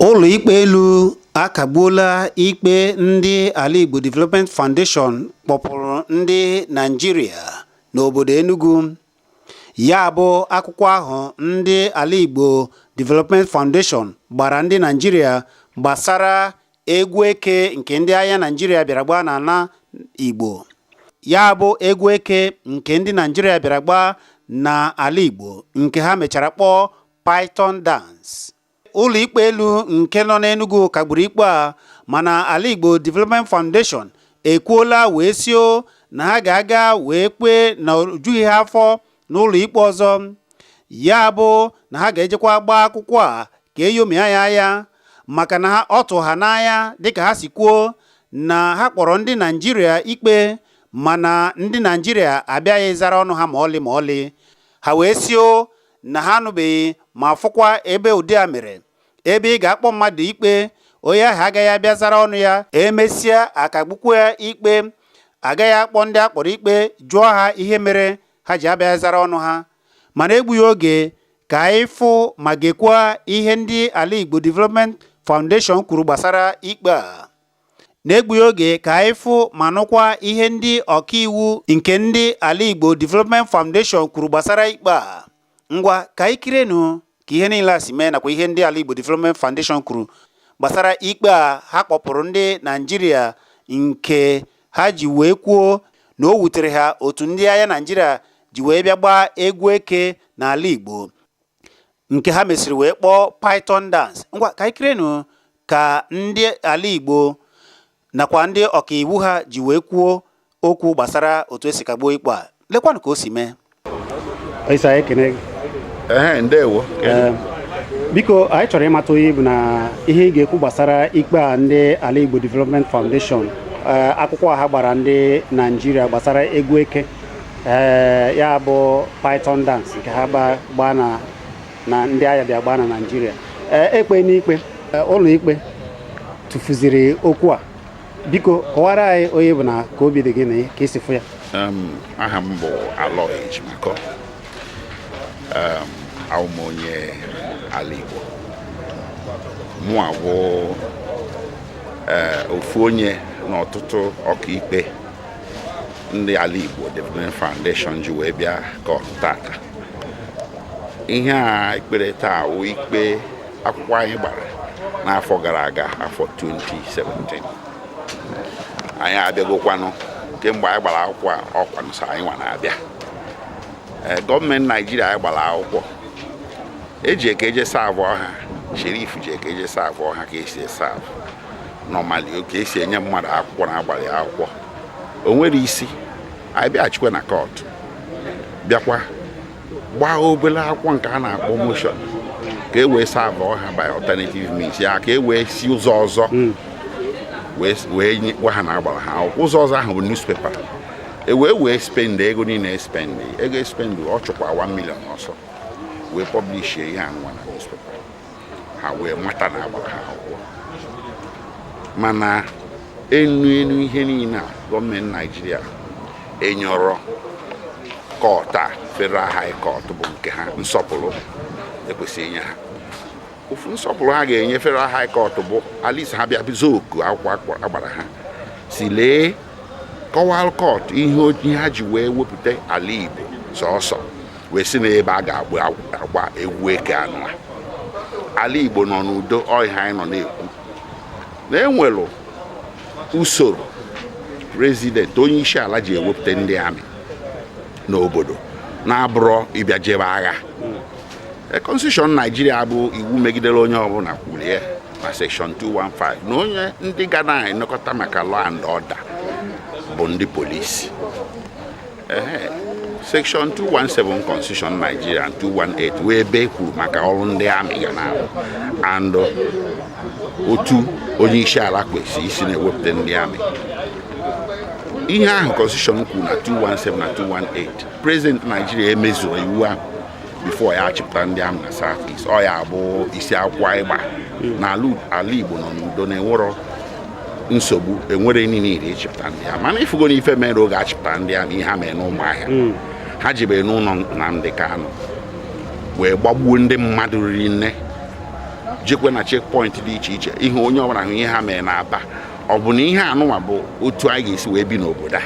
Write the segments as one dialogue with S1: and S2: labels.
S1: Ụlọikpe elu akagbuola ikpe ndị Ala Igbo Development Foundation kpọpụrụ ndị Naịjirịa n'obodo Enugu Ya bụ akwụkwọ ahụ ndị Ala Igbo Development Foundation gbara ndị Naijiria gbasara egwu eke nke ndị agha Naijiria bịara gbaa n'ala Igbo. Ya bụ egwu eke nke ndị Naijiria bịara gbaa n'ala Igbo nke ha mechara kpọọ Python Dance. ụlọikpe elu nke nọ n'Enugu kagburu ikpe a mana Ala Igbo Development Foundation ekwuola wee sio na ha ga-aga wee kpee na o jughị ha afọ n'ụlọikpe ọzọ ya bụ na ha ga-ejekwa gbaa akwụkwọ a ka e nyomia ya anya maka na ọ tụ ha n'anya dịka ha si kwuo na ha kpọrọ ndị Naijiria ikpe mana ndị Naijiria abịaghị zara ọnụ ha ma ọlị ma ọlị ha wee sio na ha anụbeghị ma fụkwa ebe ụdị a mere ebe ị ga-akpọ mmadụ ikpe onye ahụ agaghị abịa zara ọnụ ya e mesịa a kagbukwu ya ikpe a gaghị akpọ ndị a kpọrọ ikpe jụọ ha ihe mere ha ji abịa zara ọnụ ha ma n'egbughị oge ka anyị fụ ma gekwaa ihe ndị Ala Igbo Development Foundation kwuru gbasara ikpe a n'egbughị oge ka anyị fụ ma nụkwa ihe ndị ọkaiwu nke ndị ala Igbo Development Foundation kwuru gbasara ikpe a ngwa ka anyị kirenụ ka ihe niile a si mee nakwa ihe ndị ala Igbo Development Foundation kwuru gbasara ikpe a ha kpọpụrụ ndị Naijiria nke ha ji wee kwuo na o wutere ha otu ndị agha Naijiria ji wee bịa gbaa egwu eke n'ala Igbo nke ha mesịrị wee kpọọ Python dance ngwa ka anyị kirenụ ka ndị ala Igbo nakwa ndị ọkaiwu ha ji wee kwuo okwu gbasara otu e si kagbuo ikpe a lekwanụ ka o si mee ndewo biko anyị chọrọ ịmata onye ị bụ na ihe ị ga-ekwu gbasara ikpe a ndị ala Igbo Development Foundation eh, akwụkwọ ha gbara ndị Naijiria gbasara egwu eke ee ya bụ python dance nke ha gba- gbaa na na ndị agha bịa gbaa na naijiria ee e kpee n'ikpe ee, ụlọ ikpe tụfuziri okwu a biko kọwara anyị onye ị bụ na ka obi dị gị na ka i si fụ ya Um, aha
S2: m bụ Aloy Ejimakor um, awụ m onye ala Igbo mụ awụ eh, ofu onye n'ọtụtụ ọkaikpe ndị ala Igbo Development Foundation ji wee bịa kọtụ tata ihe a e kpere taa wụ ikpe akwụkwọ anyị gbara n'afọ gara aga afọ 2017 anyị abịagokwanụ kemgbe anyị gbara akwụkwọ a ọ kwanụ sọ anyị nwa na-abịa eh, gọọmenti naijiria anyị gbara akwụkwọ eji aka eje savụọ ha sherif ji aka eje savụọ ha ka esi esavụ normally ka esi enye mmadụ akwụkwọ na agbalị ya akwụkwọ o nwerọ isi anyị bịaghachikwa na kọtụ bịakwa gbaa obere akwụkwọ nke a na-akpọ motion ka e wee savụọ ha by alternative means ya ka e wee si ụzọ ọzọ hmm. wee nye gwa ha na agbara ha akwụkwọ ụzọ ọzọ ahụ bụ newspaper e wee wee spend ego niile espend ego espend ọ chụkwa 1 million ọsọ wee pọblishie ihe a nwa na newspaper ha wee mata na agbara ha akwụkwọ mana enu enu ihe niile a gọọmenti naijiria enyerọ kọt a federal high court bụ nke ha nsọpụrụ ekwesịrị inye ha ofu nsọpụrụ ha ga-enye federal high court bụ at least ha bịa bịa zaa oku akwụkwọ agbara ha sị lee kọwalụ kọt ihe ha ji wee wepụta ala igbo sọsọ wee sị na ebe a ga-agba egwu eke anụ ala Igbo nọ n'udo ọ ihe a anyị nọ na-ekwu na enwere usoro prezidenti onye isi ala ji ewepụta ndị amị n'obodo na abụrọ ịbịa jebe agha e, konstitushọn naijiria bụ iwu megidere onye ọbụla kwulu ya na sekshọn 215 na onye ndị ga na-enekọta maka law and order bụ ndị polisi section 217 constitution Nigeria 218 wụ ebe e kwuru maka ọrụ ndị amị ga na-arụ and uh, otu onye isi ala kwesịrị isi na-ewepụta ndị amị ihe ahụ constitution kwuru na 217 na 218 president Nigeria emezurọ iwu ahụ before ya achịpụta ndị amị na south east ọ ya bụ isi akwụkwọ anyị gba na ala Igbo nọ n'udo na enwerọ nsogbu enwerọ need ịchịpụta ndị amị mana ị fụgo nụ ife mere oge achịpụta ndị amị ihe ha mere n'Ụmụahịa hmm. ha jebere n'ụlọ Nnamdi Kanu wee gbagbuo ndị mmadụ riri nne jekwe na chekpọint dị iche iche ihe onye ọbụla hụ ihe ha mere na Aba ọ bụ na ihe anụnwa bụ otu anyị ga-esi wee bi n'obodo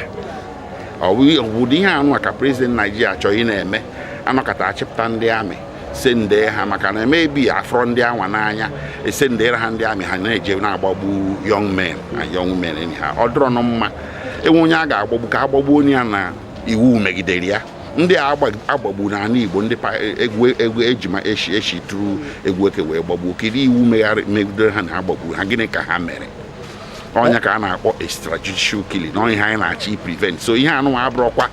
S2: a ọ bụ ụdị ihe anụnwa ka prezident naijiria chọrọ ịna-eme anọkata achịpụta ndị amị sendee ha maka na maybe afụrọ ndị anwa n'anya esendere ha ndị amị ha na-eje na-agbagbu young men na young women anyhow ọ dịrọ nụ mma enwe onye a ga-agbagbu ka agbagbuo nụ ya na iwu megidere ya ndị a agba- agbagbu n'ala igbo ndị pa- egwu egwu ejima eshi eshi tụrụ egwu eke wee gbagbuo kedu iwu megharị- megidere ha na agbagburu ha gịnị ka ha mere ọ nya ka a na-akpọ extrajudicial killing na ihe anyị na-achọ i prevent so ihe anụnwa abụrọkwa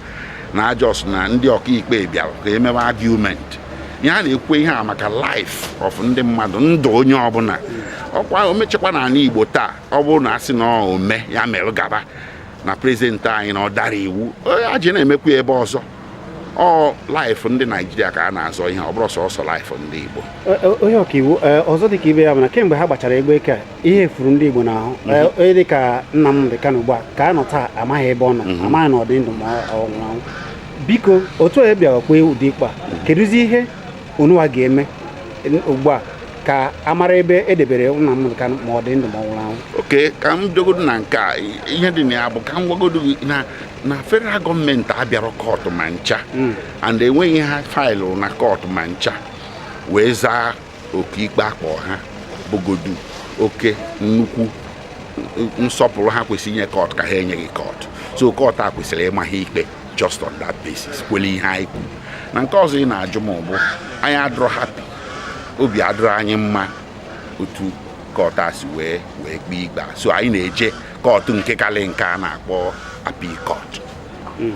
S2: na ọ just na ndị ọkaikpe bịara ka e mebe argument ihe a na-ekwu ihe a maka life of ndị mmadụ ndụ onye ọbụla ọkwa omechekwa n'ala igbo taa ọ bụrụ na a sị na o mee ya mere gaba na president anyị na ọ dara iwu onye a ji na-emekwu ya ebe ọzọ ọ life ndị naijiria ka a na-azọ ihe ọ bụrọ sọsọ life ndị igbo onye ọkaiwu
S1: ọzọ dịka ibe ya bụ na kemgbe ha gbachara egwu eke a ihe furu ndị Igbo n'ahụ onye dị ka Nnamdị Kanu ugbu a ka a nọ taa amaghị ebe ọ nọ mhm. amaghị na ọ dị ndụ ma ọ nwụrụ anwụ biko otu onye bịara kpee ụdị ikpe a mhm. kedụzi ihe unuwa ga-eme ugbu a ka a mara ebe e debere Nnamdị Kanu ma ọ dị ndụ ma ọ nwụrụ anwụ okay ka m
S2: bịagodo na nke a ihe dị na ya bụ ka m gwagodo gị na na federal government abịarọ court ma ncha mm. and enweghị ihe ha faịlụ na court ma ncha wee zaa oku ikpe a kpọọ ha bụgodu oke nnukwu nsọpụrụ ha kwesịrị inye court ka ha enyeghị court so court a kwesịrị ịma ha ikpe just on that basis kwele ihe anyị kwuru na nke ọzọ ị na-ajụ m bụ anyị adịrọ happy obi adịrọ anyị mma otu court a si wee wee kpee ikpe a so anyị na-eje court nke kalị nke a na-akpọ appeal court hmm.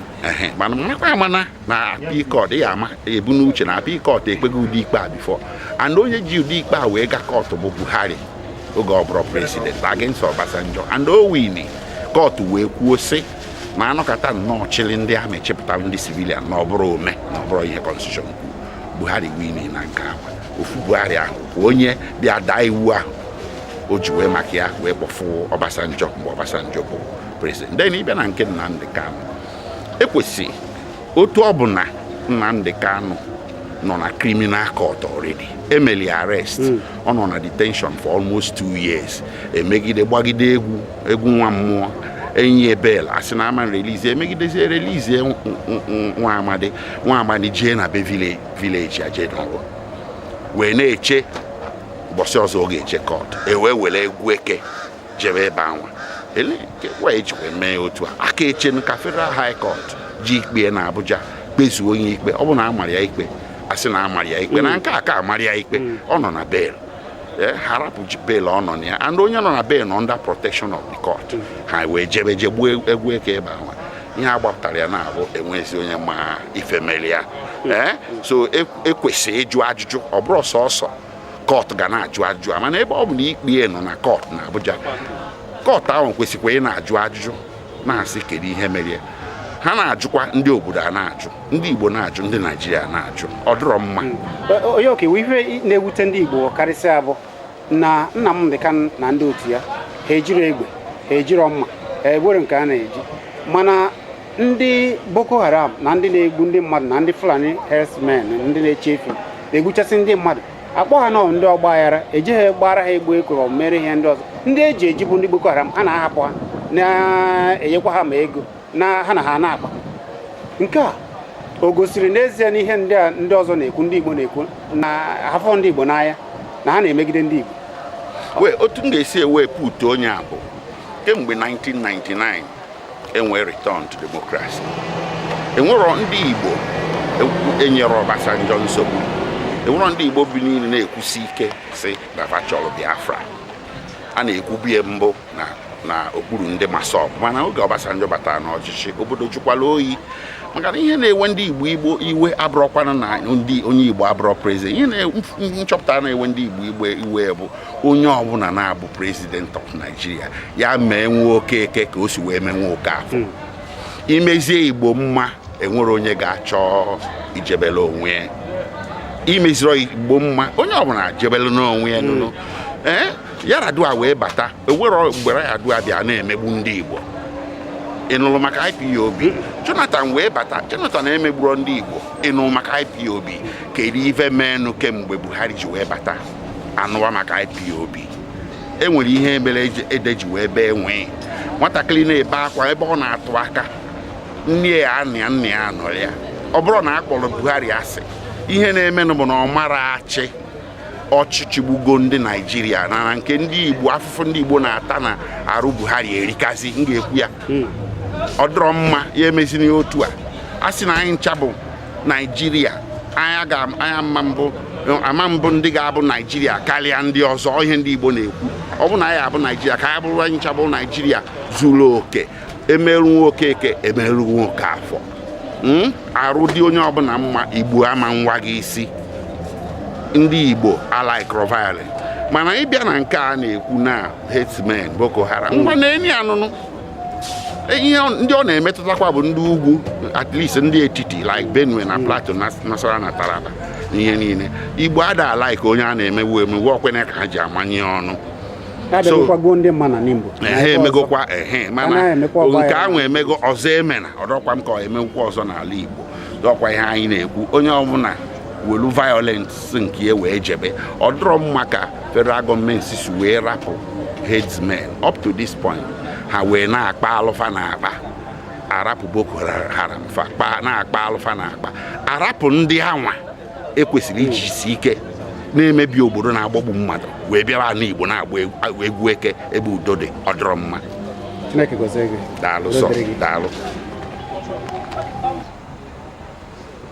S2: mana makwa ama na na appeal court ya ama ebu n'uche na appeal court ekpego ụdị ikpe a before and onye ji ụdị ikpe a wee ga court bụ buhari oge ọ bụrọ president against obasanjo and o wini court wee kwuo sị na a nọkata nnọọ chịrị ndị army chịpụtara ndị civilian na ọ bụrọ ome na ọ bụrọ ihe constitution kwuru buhari wini na nke anwa ofu buhari ahụ bụ onye bịa daa iwu ahụ o ji wee maka ya wee kpọfụ obasanjo mgbe obasanjo bụ president then ị bịa na nke nnamdị kanu ekwesị otu ọ bụ na Nnamdi Kanu nọ na criminal court already e meli ya arrest hmm. ọ nọ na detention for almost two years e megide gbagide egwu egwu nwa mmụọ e nye ya bail a sị na a ma release e megidezie release nwa amadi nwa amadi jee na be village ya jee nọrụ wee na-eche ụbọchị ọzọ ọ ga-eje court e wee were egwu eke jebe ebe anwa e jikwa mee ya otu a a ka echenu ka federal high court ji ikpe na abuja kpezuo onye ikpe ọ bụrụ na a mara ya ikpe a sị na a mara ya ikpe na nke a ka amarọ ya ikpe ọ nọ na bail Eh, ha rapụ bail ọ nọ na ya and onye nọ na bail nọ under protection of the court ha wee jebe je gbaa egwu eke ebe anwa ihe a gbapụtara na ya bụ enwezi onye ma ife mere ya Eh, so e- ekwesị ịjụ ajụjụ ọ bụrọ sọsọ kọt ga na-ajụ ajụjụ a mana ebe ọ bụ na ikpe ya nọ na kọt na Abuja kọt ahụ kwesịkwa ị na-ajụ ajụjụ na-asị kedu ihe mere ya. ha na-ajụkwa ndị obodo a na-ajụ ndị Igbo na-ajụ ndị Naijiria na-ajụ ọ dịrọ mma onye
S1: ọkaiwu ihe na-ewute ndị Igbo karịsịa bụ na Nnamdi Kanu na ndị otu ya ha ejiro egbe ha ejiro mma ha enwero nke ha na-eji mana ndị boko haram na ndị na-egbu ndị mmadụ na ndị fulani herdsmen ndị na-eche efi na-egbuchasị ndị mmadụ akpọ ha nọ ndị ọgba aghara ejeghị gbaara ha egwu eke or mere ihe ndị ọzọ ndị eji eji bụ ndị boko haram a na-ahapụ ha na-enyekwa ha ma ego na ha na ha na-akpa nke a o gosiri n'ezie na ihe ndị a ndị ọzọ na-ekwu ndị igbo na-ekwu na afụrọ ndị igbo n'anya na ha na-emegide ndị igbo wee otu m
S2: ga-esi wee putuo ya bụ kemgbe 1999 enwee return to democracy enwero ndị igbo enyere Obasanjo nsogbu enwero ndị igbo biniri na-ekwusi ike si na va chọrọ Biafra a na-ekwubu ya mbụ na okpuru ndị MASSOB mana oge Obasanjo batara n'ọchịchị obodo jụkwala oyi maka na ihe na-ewe ndị igbo iwe abụrọkwanụ na ndị onye igbo abụrọ prezident ihe m chọpụta na-ewe ndị igbo iwe bụ onye ọbụla na-abụ president of Nigeria ya mee nwa okeke ka o si wee mee nwa okafọ hmm. imezie igbo mma enwero onye ga-achọ ijebele onwe ya imeziro igbo mma onye ọbụla jebele n'onwe ya nụnụ hmm. ee eh, Yar'Adua wee bata enwero mgbe Yar'Adua bịa na-emegbu ndị igbo ị nụrụ maka IPOB Jonathan wee bata Jonathan emegburo ndị Igbo ị nụrụ maka IPOB kedu ife meenụ kemgbe Buhari ji wee bata anụwa maka IPOB e nwere ihe mere ede ji wee bee nwii nwatakịrị na-ebe akwa ebe ọ na-atụ aka nne ya anọghị ya nna ya anọrọ ya ọ bụrọ na a kpọrọ Buhari asị ihe na-emenụ bụ na ọ marọ achị ọchịchị gbugo ndị naijiria mana nke ndị igbo afụfụ ndị igbo na-ata na arụ buhari erikazi m ga-ekwu ya hmm. ọ dịrọ mma ya emezina otu a a sị na anyị ncha bụ naijiria ama mbụ ndị ga-abụ naijiria karịa ndị ọzọ ihe ndị igbo na-ekwu ọ bụ na anyị abụ naijiria ka anyị bụrụ anyị ncha bụ naijiria zuru oke emerụ nwa okeke emerụ nwa okafọ Hmm? arụ dị onye ọbụla mma igbo ama nwa gị isi ndị igbo alaikro violence mana ịbịa na nke a na-ekwu na herdsmen boko haram ngwa na enyi anụnụ e, ihe ndị ọ na-emetụtakwa bụ ndị ugwu at least ndị etiti like Benue na Plateau na Nasarawa na Taraba ihe niile Igbo ada like onye a na-emewu emewu ọkwene ka ha ji amanye ọnụ ha emegokwa ehe mana nke ahụ emego ọzọ emena ọ dọkwa m ka emekwa ọzọ n'ala Igbo dọkwa ihe anyị na-ekwu onye ọbụla welu violence nke ya wee jebe ọ dọrọ mma ka federal gọọmenti si wee rapụ herdsmen up to this point ha wee na-akpa alụ fa na-akpa a rapụ Boko Haram fa na-akpa alụ fa na-akpa a rapụ ndị a nwa e kwesịrị ijisi ike na-emebi obodo na-agbagbu mmadụ wee bịara ala Igbo na-agba egwu- egwu eke ebe
S1: udo
S2: dị ọ dịrọ mma Chineke gọzie gị. daalụ sọ Udo dịrị
S1: gị. daalụ